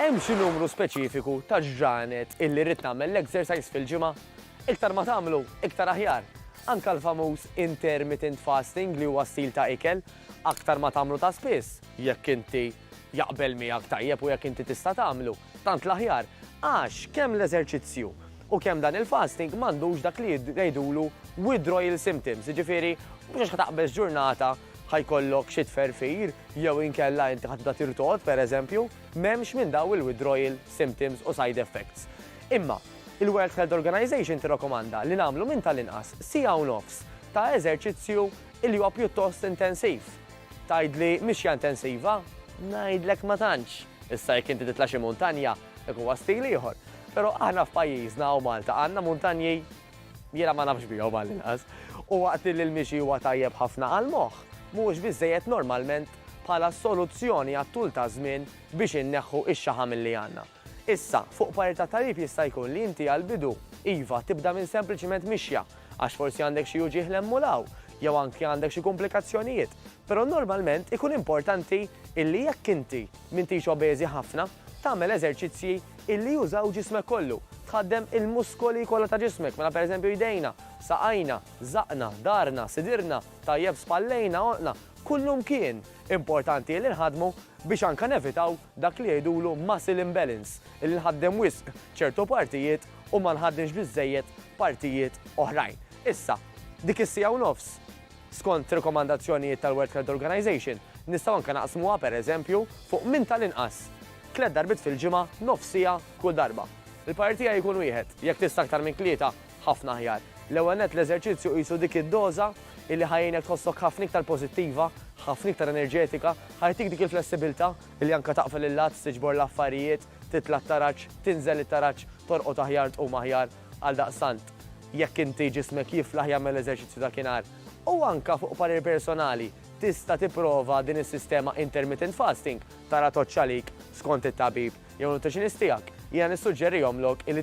Hemm xi numru speċifiku ta' ġranet illi rrid nagħmel l-exercise fil-ġimgħa? Iktar ma tagħmlu, iktar aħjar. Anke l-famuż intermittent fasting li huwa stil ta' ikel, aktar ma tagħmlu ta' spiss, jekk inti jaqbel miegħek tajjeb u jekk inti tista' tagħmlu, tant l-aħjar. Għax kemm l-eżerċizzju u kemm dan il-fasting m'għandux dak li jgħidulu withdrawal symptoms, jiġifieri mhux għax ħa taqbeż ġurnata ħa jkollok xi tferfir jew inkella inti ħa tibda tirtogħod, pereżempju, m'hemmx minn dawn il-withdrawal symptoms u side effects. Imma, il-World Health Organization tirrakomanda li nagħmlu minn tal-inqas siegħa u nofs ta' eżerċizzju li huwa pjuttost intensiv. Tgħidli mixja intensiva? Ngħidlek ma tantx. Issa jekk inti titla' xi muntanja, dak huwa stil ieħor. Però aħna f'pajjiżna hawn Malta għandna muntanji? Jiena ma nafx bihom għall-inqas. U waqt li l-mixi huwa tajjeb ħafna għall-moħħ, mhuwiex biżżejjed normalment bħala soluzzjoni għat-tul taż-żmien biex inneħħu x-xaħam li għandna. Issa, fuq parir tat-tabib jista' jkun li inti għall-bidu, iva, tibda minn sempliċiment mixja, għax forsi għandek xi uġigħ 'l hemm u 'l hawn, jew anki għandek xi kumplikazzjonijiet, però normalment ikun importanti illi jekk inti m'intix obeżi ħafna, tagħmel eżerċizzji illi jużaw ġismek kollu, tħaddem il-muskoli kollha ta' ġismek, mela pereżempju jdejna, saqajna, żaqqna, dahrna, sidirna, tajjeb spallejna, għonqna, kullimkien importanti illi nħaddmu biex anke nevitaw dak li jgħidulu muscle imbalance, illi nħaddem wisq ċertu partijiet u ma nħaddinx biżżejjed partijiet oħrajn. Issa, dik is-siegħa u nofs, skont rekomandazzjonijiet tal-World Health Organization, nistgħu anke naqsmuha, per eżempju, fuq minn tal-inqas tliet darbiet fil-ġimgħa nofs siegħa kull darba. Il-parir tiegħi jkun wieħed, jekk tista' aktar minn tlieta, Ħafna aħjar. L-ewwel nett l-eżerċizzju qisu dik id-doża illi ħa jgħinek tħossok ħafna iktar pożittiva, ħafna iktar enerġetika, ħa jagħtik dik il-flessibilità illi anke taqfel il-lats, tiġbor l-affarijiet, titla' t-taraġ, tinżel it-taraġ, torqod aħjar, tqum aħjar. Għaldaqstant, jekk inti ġismek jiflaħ jagħmel l-eżerċizzju dakinhar. U anke fuq parir personali, tista' tipprova din is-sistema intermittent fasting, tara tgħoddx għalik skont it-tabib jew nutritionist tiegħek. Jiena nissuġġerihomlok illi